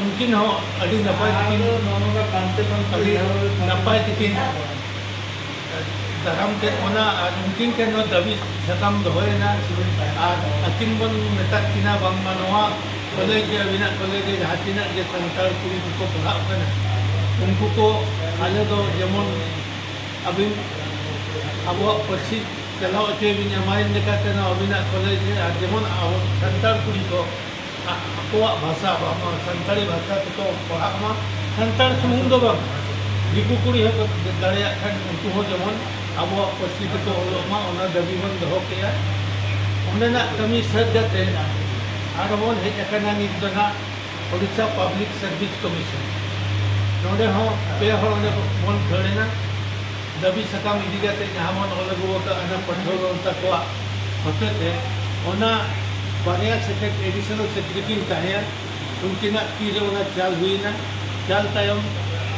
ᱩᱱᱠᱤᱱ ᱦᱚᱸ ᱟᱹᱰᱤ ᱱᱟᱯᱟᱭ ᱛᱮᱠᱤᱱ ᱟᱹᱰᱤ ᱱᱟᱯᱟᱭ ᱛᱮᱠᱤᱱ ᱫᱟᱨᱟᱢ ᱠᱮᱫ ᱵᱚᱱᱟ ᱟᱨ ᱩᱱᱠᱤᱱ ᱴᱷᱮᱱ ᱦᱚᱸ ᱫᱟᱹᱵᱤ ᱥᱟᱠᱟᱢ ᱫᱚᱦᱚᱭᱮᱱᱟ ᱟᱨ ᱟᱹᱠᱤᱱ ᱵᱚᱱ ᱢᱮᱛᱟᱫ ᱠᱤᱱᱟ ᱵᱟᱝᱢᱟ ᱱᱚᱣᱟ ᱠᱚᱞᱮᱡᱽ ᱨᱮ ᱟᱹᱵᱤᱱᱟᱜ ᱠᱚᱞᱮᱡᱽ ᱨᱮ ᱡᱟᱦᱟᱸ ᱛᱤᱱᱟᱹᱜ ᱜᱮ ᱥᱟᱱᱛᱟᱲ ᱠᱩᱲᱤ ᱠᱚᱠᱚ ᱯᱟᱲᱦᱟᱜ ᱠᱟᱱᱟ ᱩᱱᱠᱩ ᱠᱚ ᱟᱞᱮ ᱫᱚ ᱡᱮᱢᱚᱱ ᱟᱹᱵᱤᱱ ᱟᱵᱚᱣᱟᱜ ᱯᱟᱹᱨᱥᱤ ᱪᱟᱞᱟᱣ ᱦᱚᱪᱚᱭ ᱵᱤᱱ ᱮᱢᱟᱭ ᱞᱮᱠᱟᱛᱮ ᱱᱚᱣᱟ ᱟᱹᱵᱤᱱᱟᱜ ᱠᱚᱞᱮᱡᱽ ᱨᱮ ᱟᱨ ᱡᱮᱢᱚᱱ ᱟᱵᱚ ᱥᱟᱱᱛᱟᱲ ᱠᱩᱲᱤ ᱠᱚ ᱟᱠᱚᱣᱟᱜ ᱵᱷᱟᱥᱟ ᱵᱟᱝᱢᱟ ᱥᱟᱱᱛᱟᱲᱤ ᱵᱷᱟᱥᱟ ᱛᱮᱠᱚ ᱯᱟᱲᱦᱟᱜ ᱢᱟ ᱥᱟᱱᱛᱟᱲ ᱥᱩᱢᱩᱝ ᱫᱚ ᱵᱟᱝ ᱫᱤᱠᱩ ᱠᱩᱲᱤ ᱦᱚᱸᱠᱚ ᱫᱟᱲᱮᱭᱟᱜ ᱠᱷᱟᱱ ᱩᱱᱠᱩ ᱦᱚᱸ ᱡᱮᱢᱚᱱ ᱟᱵᱚᱣᱟᱜ ᱯᱟᱹᱨᱥᱤ ᱛᱮᱠᱚ ᱚᱞᱚᱜ ᱢᱟ ᱚᱱᱟ ᱫᱟᱹᱵᱤ ᱵᱚᱱ ᱫᱚᱦᱚ ᱠᱮᱜᱼᱟ ᱚᱸᱰᱮᱱᱟᱜ ᱠᱟᱹᱢᱤ ᱥᱟᱹᱛ ᱠᱟᱛᱮ ᱟᱨᱦᱚᱸ ᱵᱚᱱ ᱦᱮᱡ ᱟᱠᱟᱱᱟ ᱱᱤᱛ ᱫᱚ ᱱᱟᱜ ᱳᱰᱤᱥᱟ ᱯᱟᱵᱽᱞᱤᱠ ᱥᱟᱨᱵᱷᱤᱥ ᱠᱚᱢᱤᱥᱚᱱ ᱱᱚᱰᱮ ᱦᱚᱸ ᱯᱮ ᱦᱚᱲ ᱚᱸᱰᱮ ᱵᱚᱱ ᱠᱷᱟᱹᱲ ᱮᱱᱟ ᱫᱟᱹᱵᱤ ᱥᱟᱠᱟᱢ ᱤᱫᱤ ᱠᱟᱛᱮ ᱡᱟᱦᱟᱸ ᱵᱚᱱ ᱚᱞ ᱟᱹᱜᱩ ᱟᱠᱟᱫ ᱚᱱᱟ ᱯᱟᱹᱴᱷᱩᱣᱟᱹ ᱜᱟᱶᱛᱟ ᱠᱚᱣᱟᱜ ᱦᱚᱛᱮᱛᱮ ᱚᱱᱟ ᱵᱟᱨᱭᱟ ᱥᱮᱠᱨᱮᱴ ᱮᱰᱤᱥᱚᱱᱟᱞ ᱥᱮᱠᱨᱮᱴᱟᱨᱤ ᱠᱤᱱ ᱛᱟᱦᱮᱸᱭᱟ ᱩᱱᱠᱤᱱᱟᱜ ᱛᱤ ᱨᱮ ᱚᱱᱟ ᱪᱟᱞ ᱦᱩᱭ ᱮᱱᱟ ᱪᱟᱞ ᱛᱟᱭᱚᱢ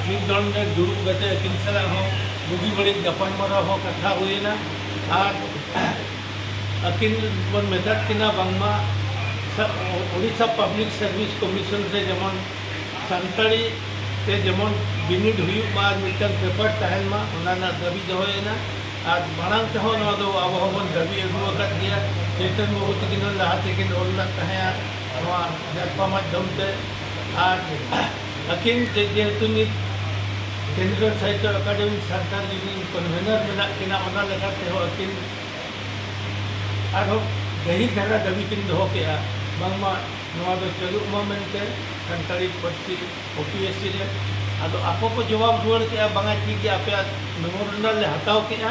ᱢᱤᱫ ᱫᱚᱢ ᱨᱮ ᱫᱩᱲᱩᱵ ᱠᱟᱛᱮ ᱟᱹᱠᱤᱱ ᱥᱟᱞᱟᱜ ᱦᱚᱸ ᱵᱩᱜᱤ ᱵᱟᱹᱲᱤᱡ ᱜᱟᱯᱟᱞ ᱢᱟᱨᱟᱣ ᱦᱚᱸ ᱠᱟᱛᱷᱟ ᱦᱩᱭ ᱮᱱᱟ ᱟᱨ ᱟᱹᱠᱤᱱ ᱵᱚᱱ ᱢᱮᱛᱟᱫ ᱠᱤᱱᱟ ᱵᱟᱝᱢᱟ ᱳᱰᱤᱥᱟ ᱯᱟᱵᱽᱞᱤᱠ ᱥᱟᱨᱵᱷᱤᱥ ᱠᱚᱢᱤᱥᱚᱱ ᱨᱮ ᱡᱮᱢᱚᱱ ᱥᱟᱱᱛᱟᱲᱤ ᱛᱮ ᱡᱮᱢᱚᱱ ᱵᱤᱱᱤᱰ ᱦᱩᱭᱩᱜ ᱢᱟ ᱟᱨ ᱢᱤᱫᱴᱟᱝ ᱯᱮᱯᱟᱨ ᱛᱟᱦᱮᱱ ᱢᱟ ᱚᱱᱟ ᱨᱮᱱᱟᱜ ᱫᱟᱹᱵᱤ ᱫᱚᱦᱚ ᱮᱱᱟ ᱟᱨ ᱢᱟᱲᱟᱝ ᱛᱮᱦᱚᱸ ᱱᱚᱣᱟ ᱫᱚ ᱟᱵᱚ ᱦᱚᱸᱵᱚᱱ ᱫᱟᱹᱵᱤ ᱟᱹᱜᱩ ᱟᱠᱟᱫ ᱜᱮᱭᱟ ᱪᱳᱭᱛᱚᱱ ᱵᱟᱹᱵᱩ ᱛᱟᱹᱠᱤᱱ ᱦᱚᱸ ᱞᱟᱦᱟ ᱛᱮᱠᱤᱱ ᱚᱞ ᱞᱮᱫ ᱛᱟᱦᱮᱸᱫᱼᱟ ᱱᱚᱣᱟ ᱡᱟᱨᱯᱟ ᱢᱟᱫᱽᱫᱷᱚᱢ ᱛᱮ ᱟᱨ ᱟᱹᱠᱤᱱ ᱛᱮ ᱡᱮᱦᱮᱛᱩ ᱱᱤᱛ ᱠᱮᱱᱫᱨᱚ ᱥᱟᱦᱤᱛᱛᱚ ᱟᱠᱟᱰᱮᱢᱤ ᱥᱟᱱᱛᱟᱲ ᱨᱤᱱᱤᱡ ᱠᱚᱱᱵᱷᱮᱱᱚᱨ ᱢᱮᱱᱟᱜ ᱠᱤᱱᱟ ᱚᱱᱟ ᱞᱮᱠᱟ ᱛᱮᱦᱚᱸ ᱟᱹᱠᱤᱱ ᱟᱨᱦᱚᱸ ᱜᱟᱹᱦᱤᱨ ᱫᱷᱟᱨᱟ ᱫᱟᱹᱵᱤ ᱠᱤᱱ ᱫᱚᱦᱚ ᱠᱮᱫᱼᱟ ᱵᱟᱝᱢᱟ ᱱᱚᱣᱟ ᱫᱚ ᱪᱟᱹᱞᱩᱜ ᱢᱟ ᱢᱮᱱᱛᱮ ᱥᱟᱱᱛᱟᱲᱤ ᱯᱟᱹᱨᱥᱤ ᱳᱯᱤᱮᱥᱥᱤ ᱨᱮ ᱟᱫᱚ ᱟᱠᱚ ᱠᱚ ᱡᱚᱵᱟᱵᱽ ᱨᱩᱣᱟᱹᱲ ᱠᱮᱫᱼᱟ ᱵᱟᱝᱟ ᱴᱷᱤᱠ ᱜᱮᱭᱟ ᱟᱯᱮᱭᱟᱜ ᱢᱮᱢᱳᱨᱮᱱᱰᱟᱞ ᱞᱮ ᱦᱟᱛᱟᱣ ᱠᱮᱫᱼᱟ᱾